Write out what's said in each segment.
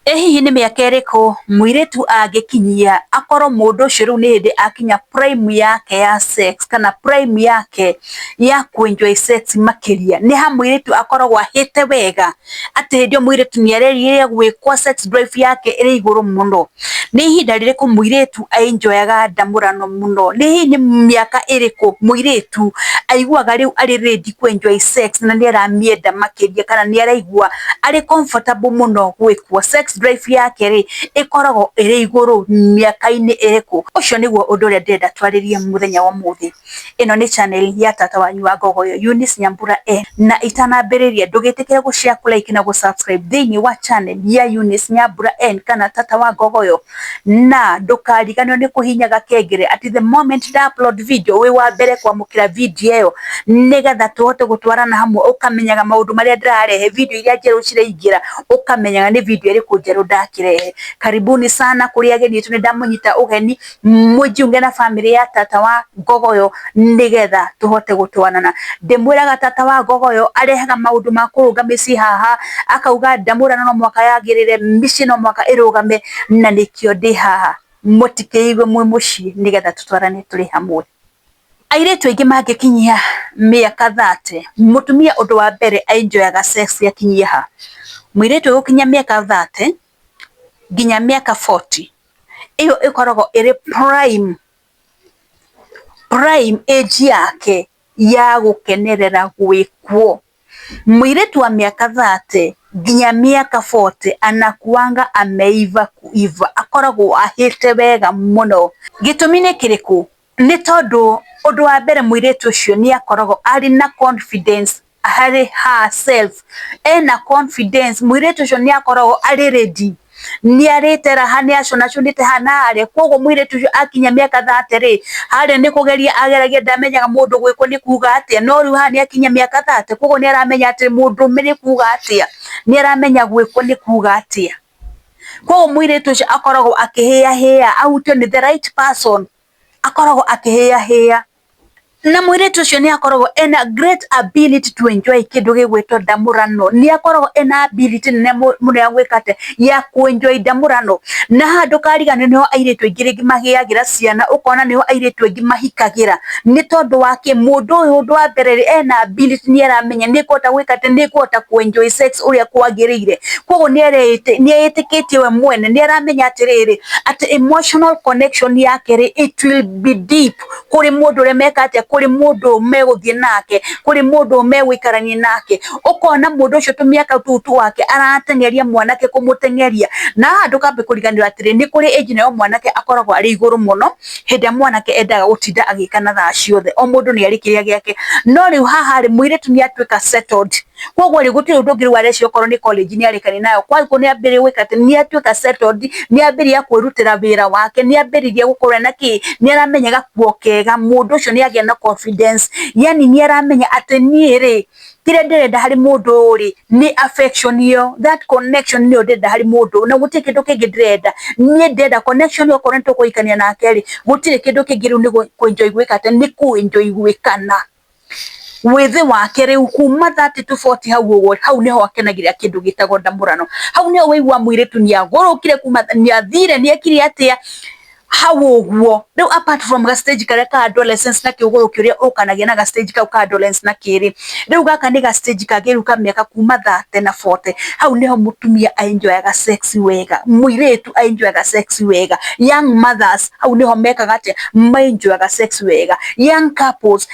Ĩ hihi nĩ mĩaka ĩrĩkũ mũirĩtu angĩkinyia akorwo mũndũ ũcio rĩu nĩ hĩndĩ akinya prime yake ya sex kana prime yake ya kũ enjoy sex makĩria? Nĩ ha mũirĩtu akoragwo ahĩte wega atĩ hĩndĩ ĩyo mũirĩtu nĩ arĩrĩgĩrĩra gwĩkwo sex drive yake ĩrĩ igũrũ mũno? Nĩ ihinda rĩrĩkũ mũirĩtu ainjoyaga ndamũrano mũno? Nĩ nĩ mĩaka ĩrĩkũ mũirĩtu aiguaga rĩu arĩ ready kũ enjoy sex na nĩ aramĩenda makĩria kana nĩ araigua arĩ comfortable mũno gwĩkwo? Sex drive yake rĩ, ĩkoragwo ĩrĩ igũrũ mĩaka-inĩ ĩrĩkũ? Ũcio nĩguo ũndũ ũrĩa ndĩrenda twarĩrie mũthenya wa ũmũthĩ. Ĩno nĩ channel ya tata wanyu wa ngogoyo Eunice Nyambura e, na itanambĩrĩria ndũgĩtĩkĩre gũ share, kũ like na gũ subscribe thĩinĩ wa channel ya Eunice Nyambura e kana tata wa ngogoyo, na ndũkariganĩrwo nĩ kũhihinyaga kengele atĩ the moment nda upload video wĩ wa mbere kwamũkĩra video ĩyo, nĩgetha tũhote gũtwarana hamwe ũkamenyaga maũndũ marĩa ndĩrarehe, video iria njerũ ciraingĩra ũkamenyaga nĩ video ĩrĩkũ njerũ ndakĩrehe. Karibuni sana kũrĩ ageni aitũ nĩ ndamũnyita ũgeni, mũingĩ ũngĩ na bamĩrĩ ya tata wa gogo ũyũ nĩ getha tũhote gũtwarana. Ndĩmwĩraga tata wa gogo ũyũ arehaga maũndũ ma kũrũnga mĩciĩ haha, akauga ndamũrano no mũhaka yagĩrĩre, mĩciĩ no mũhaka ĩrũgame, na nĩkĩo ndĩ haha. Mũtikeigue mwĩ mũciĩ nĩ getha tũtwarane tũrĩ hamwe. Airĩtu aingĩ mangĩkinyia mĩaka thate, mũtumia ũndũ wa mbere a enjoy aga sex akinyie ha? Mũirĩtu ũgũkinyia mĩaka thate nginya mĩaka forty, ĩyo ĩkoragwo ĩrĩ prime, prime age yake ya gũkenerera gwĩkwo. Mũirĩtu wa mĩaka thate nginya mĩaka bote anakuanga ameiva kuiva, akoragwo ahĩte wega mũno. Gĩtũmi nĩ kĩrĩkũ? Nĩ tondũ ũndũ wa mbere mũirĩtu ũcio nĩ akoragwo arĩ na confidence harĩ herself. Ena confidence, mũirĩtu ũcio nĩ akoragwo arĩ ready. Nĩ arĩte raha, nĩ acũnacũnĩte haha na harĩa. Kũguo mũirĩtu ũcio akinyia mĩaka thate rĩ, harĩa nĩ kũgeria ageragia ndamenyaga mũndũ gwĩkũ nĩ kuuga atĩa. No rĩu haha nĩ akinyia mĩaka thate, kũguo nĩ aramenya atĩ mũndũ nĩ kuuga atĩa. Nĩ aramenya gwĩkũ nĩ kuuga atĩa. Koguo mũirĩtu ũcio akoragwo akĩhĩya hĩya ahutio nĩ the right person, akoragwo akĩhĩya hĩya. Na mũirĩtu ũcio nĩ akoragwo ena great ability to enjoy kĩndũ gĩgwĩtwo ndamũrano. Nĩ akoragwo ena ability nene mũno ya gwĩka atĩa, ya kũ enjoy ndamũrano. Na haha ndũkariganĩrwo nĩho airĩtu aingĩ rĩngĩ magĩagĩra ciana, ũkona nĩho airĩtu aingĩ mahikagĩra. nĩ tondũ wa kĩ mũndũ ũyũ ũndũ wa mbere rĩ ena ability nĩ aramenya nĩ kũhota gwĩka atĩ nĩ kũhota kũ enjoy sex ũrĩa kwagĩrĩire koguo nĩ erĩte- nĩ etĩkĩtie we mwene nĩ aramenya atĩrĩrĩ atĩ emotional connection yake rĩ it will be deep kũrĩ mũndũ ũrĩa meka atĩa kũrĩ mũndũ ũyũ megũthiĩ nake kũrĩ mũndũ ũyũ megũikarania nake ũkona mũndũ ũcio tũmĩaka tũu twake arateng'eria mwanake kũmũteng'eria na haha ndũkambe kũriganĩrwo atĩrĩ nĩ kũrĩ age nayo mwanake akoragwo arĩ igũrũ mũno hĩndĩ ĩrĩa mwanake endaga gũtinda agĩka na thaa ciothe, o mũndũ nĩ arĩ kĩrĩa gĩake. No rĩu haha rĩ, mũirĩtu nĩ atuĩka settled. Kwoguo rĩ, gũtirĩ ũndũ ũngĩ rĩu areciria okorwo nĩ college nĩ arĩkania nayo. Kwoguo nĩ ambĩrĩria gwĩka atĩ, nĩ atuĩka settled, nĩ ambĩrĩria kwĩrutĩra wĩra wake, nĩ ambĩrĩria gũkorwo ena kĩ, nĩ aramenya gakuo kega. Mũndũ ũcio nĩ agĩa na confidence. Yaani nĩ aramenya atĩ niĩ rĩ, kĩrĩa ndĩrenda harĩ mũndũ rĩ nĩ affection ĩyo that connection nĩyo ndĩrenda harĩ mũndũ na gũtirĩ kĩndũ kĩngĩ ndĩrenda niĩ ndĩrenda connection ĩyo okorwo nĩ tũkũhikania nake rĩ gũtirĩ kĩndũ kĩngĩ rĩu nĩ kwenjoy gwĩka atĩ nĩ kwenjoy gwĩkana wĩthĩ wake rĩu kuma thate tu boti hau ũguo hau nĩho akenagĩrĩra kĩndũ gĩtagwo ndamũrano hau nĩho wĩigua mũirĩtu nĩagũrũkire kuma nĩathire nĩekire atĩa ha woguo riu apart from ga stage karia ka adolescence na kiuguru kiria ukanagia na ga stage kau ka adolescence na kiri riu gaka ni ga stage kagiru ka miaka kuma 30 na 40 hau niho mutumia enjoyaga sex wega muiritu enjoyaga sex wega young mothers hau niho mekaga atia enjoyaga sex wega young couples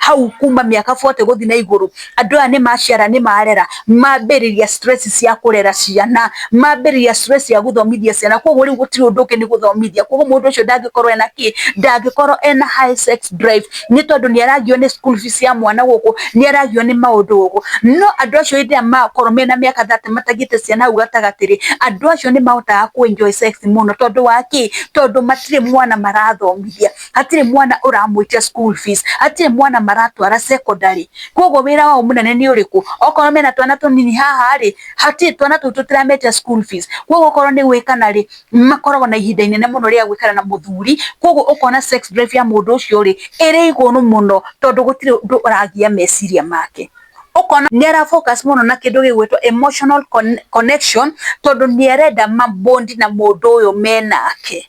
hau kuma miaka 40 guthi na iguru andu aya ni maciara ni marera mambiriria stress cia kurera ciana mambiriria stress cia guthomithia ciana koguo riu gutiri undu ungi ni guthomithia koguo mundu ucio ndangikorwo ena ki ndangikorwo ena high sex drive ni tondu ni aragio ni school fees ya mwana guku ni aragio ni maundu guku no andu acio hindi ya makorwo mena miaka 30 matagite ciana hau gatagatiri andu acio ni mahotaga ku enjoy sex muno tondu wa ki tondu matire mwana marathomithia hatirĩ mwana ũramwĩtia school fees hatirĩ mwana maratwara secondary koguo wĩra wao mũnene nĩ ũrĩkũ okorwo mena twana tũnini haha rĩ hatirĩ twana tũu tũtirametia school fees koguo okorwo nĩ gwĩkana rĩ makoragwo na ihinda inene mũno rĩa gwĩkana na mũthuri koguo ũkona sex drive ya mũndũ ũcio rĩ ĩrĩ igũrũ mũno tondũ gũtirĩ ũndũ ũragia meciria make ũkona nĩ ara focus mũno na kĩndũ gĩgwĩtwo emotional connection tondũ nĩ arenda ma bond na mũndũ ũyũ menake.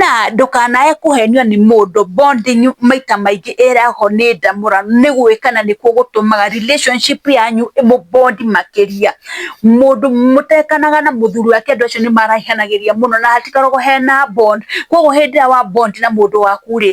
Na ndũkanae kũhenio nĩ mũndũ, bonding maita maingĩ ĩrehagwo nĩ ndamũrano, nĩ gwĩkana nĩkuo gũtũmaga relationship yanyu ĩmũ bond makĩria. Mũndũ mũtekanaga na mũthuri wake andũ acio nĩ marahihanagĩria mũno na hatikoragwo hena bond. Kũguo hĩndĩ ĩrĩa wa bond na mũndũ waku rĩ,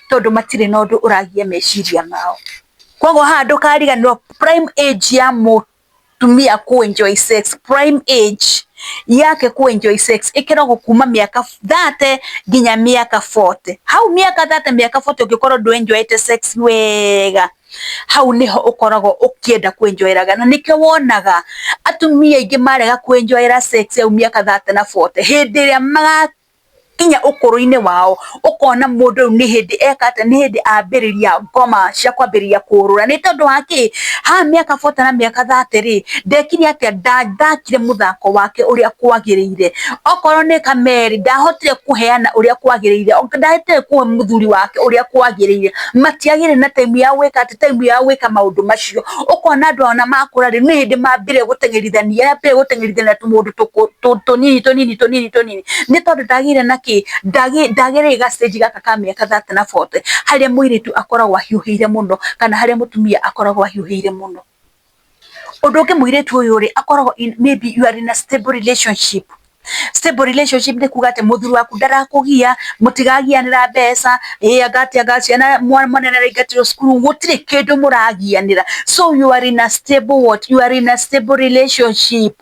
tondũ matirĩ na ũndũ ũragia meciria mao. Koguo haha ndũkariganĩrwo prime age ya mũtumia kũ enjoy sex, prime age yake kũ enjoy sex ĩkoragwo kuma mĩaka thate nginya mĩaka bote. Hau mĩaka thate mĩaka bote ũngĩkorwo ndũ enjoy ĩte sex wega, hau nĩho ũkoragwo ũkĩenda kũ enjoy ĩraga. Na nĩkĩo wonaga atumia aingĩ marega kũ enjoy ĩra sex hau mĩaka thate na bote, hĩndĩ ĩrĩa nginya ũkũrũ-inĩ wao ũkona mũndũ ũyũ nĩ hĩndĩ eka atĩa, nĩ hĩndĩ ambĩrĩria ngoma cia kwambĩrĩria kũrũra. Nĩ tondũ wa kĩ? Haha mĩaka forty na mĩaka thirty rĩ, ndekire atĩa? Ndathakire mũthako wake ũrĩa kwagĩrĩire. Okorwo nĩ kamerĩ, ndahotire kũheana ũrĩa kwagĩrĩire, ndahotire kũhe mũthuri wake ũrĩa kwagĩrĩire. Matiagĩire na time ya gwĩka atĩ, time ya gwĩka maũndũ macio. Ũkona andũ aya ona makũra rĩ, nĩ hĩndĩ mambire gũteng'erithania, mambire gũteng'erithania tũmũndũ tũnini tũnini tũnini. gĩkĩ nĩ tondũ ndagĩire na kĩ, ndagĩire gacitĩnji gaka ka mĩaka thate na bote, harĩa mũirĩtu akoragwo ahiũhĩire mũno, kana harĩa mũtumia akoragwo ahiũhĩire mũno. Ũndũ ũngĩ mũirĩtu ũyũ rĩ, akoragwo in may be you are in a stable relationship. Stable relationship nĩ kuuga atĩ mũthuri waku ndarakũgia, mũtiragianĩra mbeca, ĩĩ anga atĩ anga ciana mwana nĩ araingatirwo cukuru, gũtirĩ kĩndũ mũragianĩra. So you are in a stable what? You are in a stable relationship.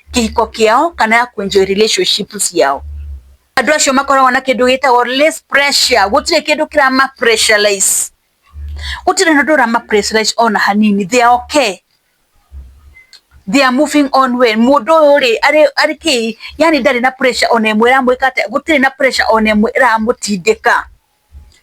kĩhiko kĩao kana ya kũ enjoy relationship ciao. Andũ acio makoragwo na kĩndũ gĩtagwo less pressure, gũtirĩ kĩndũ kĩrama pressurize, gũtirĩ ũndũ ũrama pressurize ona hanini, they are okay, they are moving on well. Mũndũ ũyũ rĩ, arĩ arĩ kĩĩ, yaani ndarĩ na pressure ona ĩmwe ĩramwĩka atĩa, gũtirĩ na pressure ona ĩmwe ĩramũtindĩka.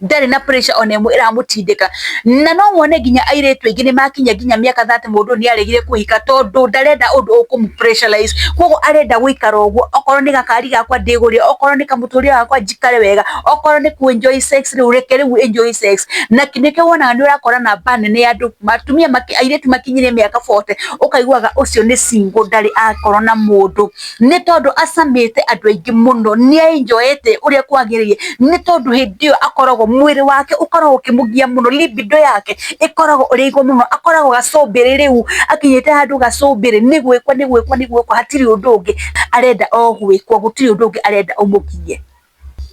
ndarĩ na pressure ona ĩmwe ĩramũtindĩka na no wone nginya airĩtu aingĩ nĩ makinya nginya mĩaka thate mũndũ nĩ aregire kũhika tondũ ndarenda ũndũ ũkũmũ pressurize koguo arenda gũikara ũguo okorwo nĩ gakari gakwa ndĩgũrĩre okorwo nĩ kamũtũrĩre gakwa njikare wega okorwo nĩ kũ enjoy sex rĩu reke rĩu enjoy sex na nĩkĩo wonaga nĩ ũrakora namba nene ya andũ atumia airĩtu makinyire mĩaka 40 ũkaiguaga ũcio nĩ single ndarĩ akorwo na mũndũ nĩ tondũ acamĩte andũ aingĩ mũno nĩ enjoyete ũrĩa kwagĩrĩire nĩ tondũ hĩndĩ ĩyo akoragwo mwĩrĩ wake ũkoragwo ũkĩmũgia mũno libido yake ĩkoragwo ĩrĩ igũrũ mũno akoragwo gacumbĩrĩ rĩu akinyĩte handũ gacumbĩrĩ nĩ gwĩkwo nĩ gwĩkwo nĩ gwĩkwo hatirĩ ũndũ ũngĩ arenda o gwĩkwo gũtirĩ ũndũ ũngĩ arenda ũmũgie.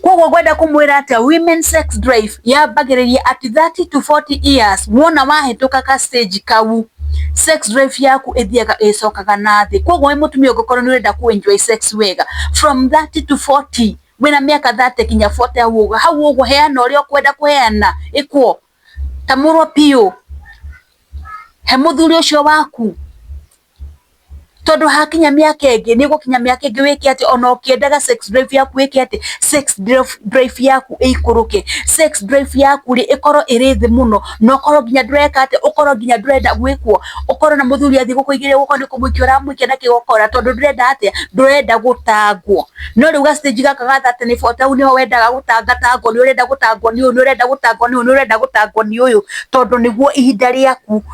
Koguo ngwenda kumwira atia women sex drive yambagiriria at 30 to 40 years wona wahituka ka stage kau sex drive yaku ithiaga icokaga na thi koguo wi mutumia ungikorwo ni urenda ku enjoy sex wega from 30 to 40 wina miaka 30 kinya 40 hau uguo hau uguo heana uria ukwenda kuheana ikwo tamurwo piu he muthuri ucio waku tondũ hakinya mĩaka ĩngĩ nĩ ũgũkinya mĩaka ĩngĩ wĩke atĩ ona ũkĩendaga sex drive yaku ĩke atĩ sex drive yaku ĩikũrũke. Sex drive yaku rĩ ĩkorwo ĩrĩ thĩ mũno na ũkorwo nginya ndũreka atĩ, ũkorwo nginya ndũrenda gwĩkwo, ũkorwo ona mũthuri athiĩ gũkũigĩrĩra ũkorwo nĩ kũmũikia ũramũikia na kĩgokora tondũ ndũrenda atĩa, ndũrenda gũtangwo. No rĩu ga stage gaka ga thirty nĩ forty hau nĩho wendaga gũtanga tangwo, nĩ ũrenda gũtangwo nĩ ũyũ, nĩ ũrenda gũtangwo nĩ ũyũ, nĩ ũrenda gũtangwo nĩ ũyũ tondũ nĩguo ihinda rĩaku.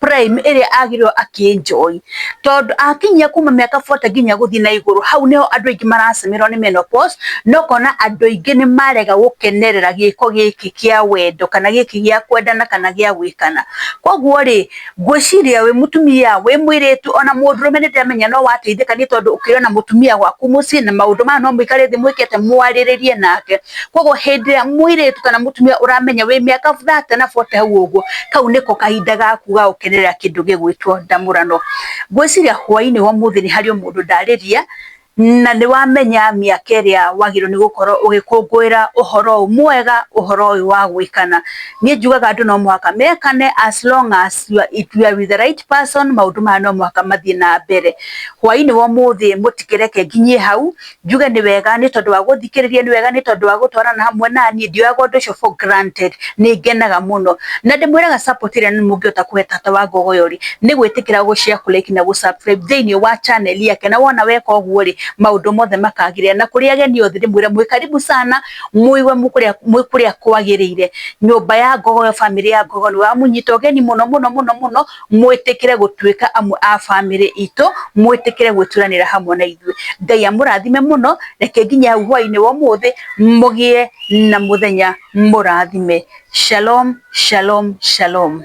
prime ĩrĩa agĩrĩirwo akĩnjoi tondũ akinyia kuma mĩaka 40 nginya gũthiĩ na igũrũ hau nĩho andũ aingĩ maracemerwo nĩ menopause na ũkona andũ aingĩ nĩ marega gũkenerera gĩko gĩkĩ kĩa wendo kana gĩkĩ gĩa kwendana kana gĩa gwĩkana koguo rĩ ngwĩciria wĩ mũtumia wĩ mwĩrĩtu ona mũndũrũme nĩ ndĩramenya no wateithĩka nĩ tondũ ũkĩrĩ ona mũtumia gwaku mũciĩ na maũndũ maya no mũikare thĩ mwĩkĩte mwarĩrĩrie nake. koguo hĩndĩ ĩrĩa mũirĩtu kana mũtumia ũramenya wĩ mĩaka thate na bote hau ũguo kau nĩko kahinda gaku ga gũkenerera kĩndũ gĩgwĩtwo ndamũrano ngwĩciria hwainĩ wa ũmũthĩ nĩ harĩ mũndũ ndarĩria na nĩ wamenya mĩaka ĩrĩa wagĩrĩirwo nĩ gũkorwo ũgĩkũngũĩra ũhoro ũyũ mwega ũhoro ũyũ wa gwĩkana niĩ njugaga andũ no mũhaka mekane as long as you are, if you are with the right person maũndũ maya no mũhaka mathiĩ na mbere hwainĩ wa ũmũthĩ mũtikĩreke nginyie hau njuge nĩ wega nĩ tondũ wa gũthikĩrĩria nĩ wega nĩ tondũ wa gũtwarana hamwe na niĩ ndioyaga ũndũ ũcio for granted nĩ ngenaga mũno na ndĩmwĩraga support ĩrĩa nĩ mũngĩhota kũhe tata wa ngogo yori nĩ gwĩtĩkĩra gũshare kũreki na gũsubscribe thĩinĩ wa channel yake na wona weka ũguo rĩ maũndũ mothe makagĩrĩra na kũrĩa ageni othe ndĩmwĩre mwĩ karibu sana mũiwe mũkũrĩa mwĩ kũrĩa kwagĩrĩire nyũmba ya ngogo yo family ya ngogo nĩ wa mũnyita ũgeni mũno mũno mũno mũno mwĩtĩkĩre gũtuĩka amwe a bamĩrĩ itũ, mwĩtĩkĩre gwĩturanĩra hamwe na ithuĩ. Ngai amũrathime mũno, reke nginya hau hwaĩ-inĩ wa ũmũthĩ mũgĩe na mũthenya mũrathime. Shalom, shalom, shalom.